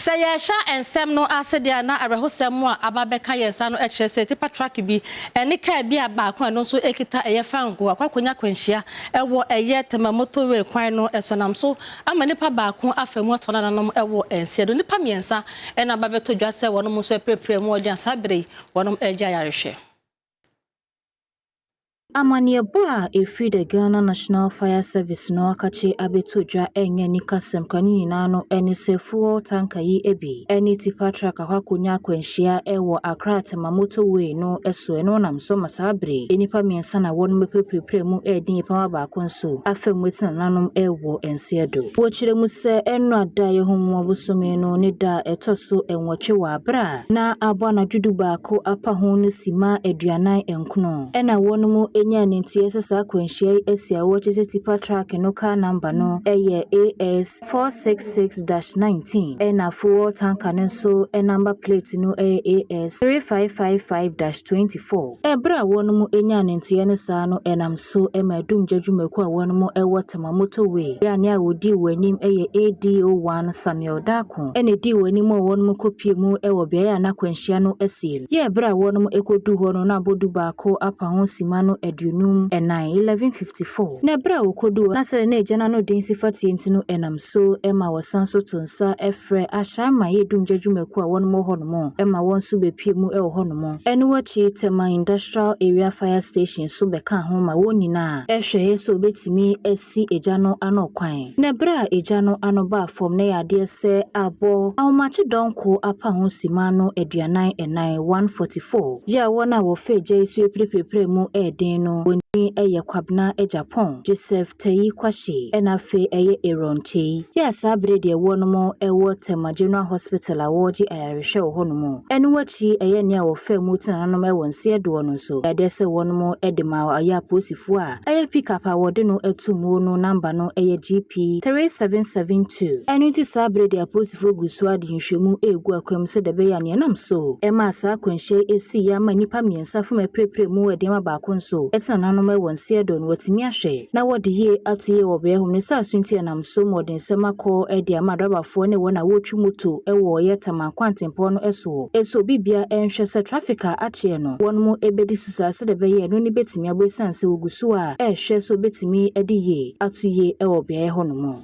Sɛ yɛhwɛ nsɛm no ase de a, na awerɛhosɛm a aba abɛka yɛn saa no kyerɛ sɛ tipa truck bi ne kaa bi a baako a ɛno nso kita ɛyɛ fangoo akɔ akɔnya akwanhyia wɔ ɛyɛ Tema motorway kwan no so nam so ama nipa baako afa mu atɔ nananom wɔ nsiɛ do. Nipa mmiɛnsa na aba abɛtɔ dwa sɛ wɔnom nso apirapira mu wɔ gya saa bere yi wɔnom regye ayarehwɛ. Amanneɛbɔ a ɛfiri The Ghana National Fire Service no akakye abɛto dwa ɛnyɛ anikasɛm kora ne nyinaa no ne sɛ fuel tanker yi bi ne tipa truck akɔ akɔnya akwanhyia wɔ Accra Tema motorway no so ɛno nam so ma saa bere yi nnipa mmiɛnsa na wɔnom apirapirapira mu redi nnipa baako nso afa mu ɛte nananom wɔ nseɛ do. Wɔkyerɛ mu sɛ ɛnnora da a yɛhu mu abosome no ne da a ɛtɔ so nwɔtwe wɔ abere a na abɔ anadwo dubaako apa ho no si maa aduanan nkron. Ɛna wɔnom nyaa ne nti ɛsɛ saa akwanhyia yi asi a wɔkyerɛ sɛ tipa truck no car number no ɛyɛ AS four six six dash nineteen ɛna fuel tanker no nso number plate no ɛyɛ AS three five five five dash twenty four. Ɛberɛ a wɔnom nyaa ne nteɛ no saa no ɛnam so ɛma adum gya dwumakuo a wɔnom ɛwɔ Tema motorway yɛ a nea ɔdii wɔn anim ɛyɛ ADO one Samuel Darko. pon na edii wɔn anim ma wɔnom kopue mu wɔ beaɛ a na akwanhyia no asie no. Yɛɛ bere a wɔnom koduu hɔ no na abodu baako apa ho simma no aduonum nan, 1154. Na bere a wɔkoduu hɔ na sɛdeɛ na agya no ano den si fa teɛ nti no ɛnam so ma wɔsan so to nsa frɛ ahyɛn ma yɛ dumgya dwumakuo a wɔnom wɔ hɔnom ma wɔn nso bepue mu wɔ hɔnom. Ɛno wakyi Tema Industrial Area Fire Station nso bɛkaa ho ma wɔn nyinaa hwɛɛ sɛ wɔbetumi asi. si egya no ano kwan. Na bere a egya no ano baa fam na ɛyɛ adeɛ sɛ abɔ ahomakye dɔnko apa ho simma no aduanan ɛnan, one forty four, yɛ a wɔn a wɔfa egya yi so apirapirapira mu ɛyɛ den no, wɔn din ɛyɛ Kwabena Agyapong, Joseph Tayi Kwahye, ɛna afei ɛyɛ Aaron Kyei, yɛ a saa bere deɛ wɔnom ɛwɔ Tema General Hospital a wɔregye ayarehwɛ wɔ hɔ nom. Ɛno akyi ɛyɛ nea wɔfaa mu tenaa nanom ɛwɔ Nseɛdoɔ no nso, ɛyɛ adeɛ sɛ wɔnom ɛde maa ɔyɛ apolisifoɔ a. Ɛyɛ pickup a wɔde no atu muo no namba no yɛ GP 3772. Ɛno nti saa bere de apolisifo gu so ade nhwehwɛmu regu akwam sɛdeɛ ɛbɛyɛ a nea ɛnam so maa saa akwanhyia yi sii yi ama nnipa mmiɛnsa fam apirapira mu de ama baako nso tena n'anom wɔ nseɛdo no watumi ahwɛ na wɔde yie ato yie wɔ beaɛ hɔ ne saa so nti ɛnam so ma ɔde nsɛm akɔ de ama adɔbafoɔ ne wɔn a wɔretwi moto wɔ yɛ Taman Kwantempɔn no soɔ so obi biara nhwɛ sɛ traffic a akyeɛ no wɔnom bɛdi Sɛ sɛdeɛ ɛbɛyɛ ɛno no bɛtumi aboa ɛsiane sɛ wɔgu so a rehwɛ sɛ wɔbɛtumi de yie ato yie wɔ beaeɛ hɔnom.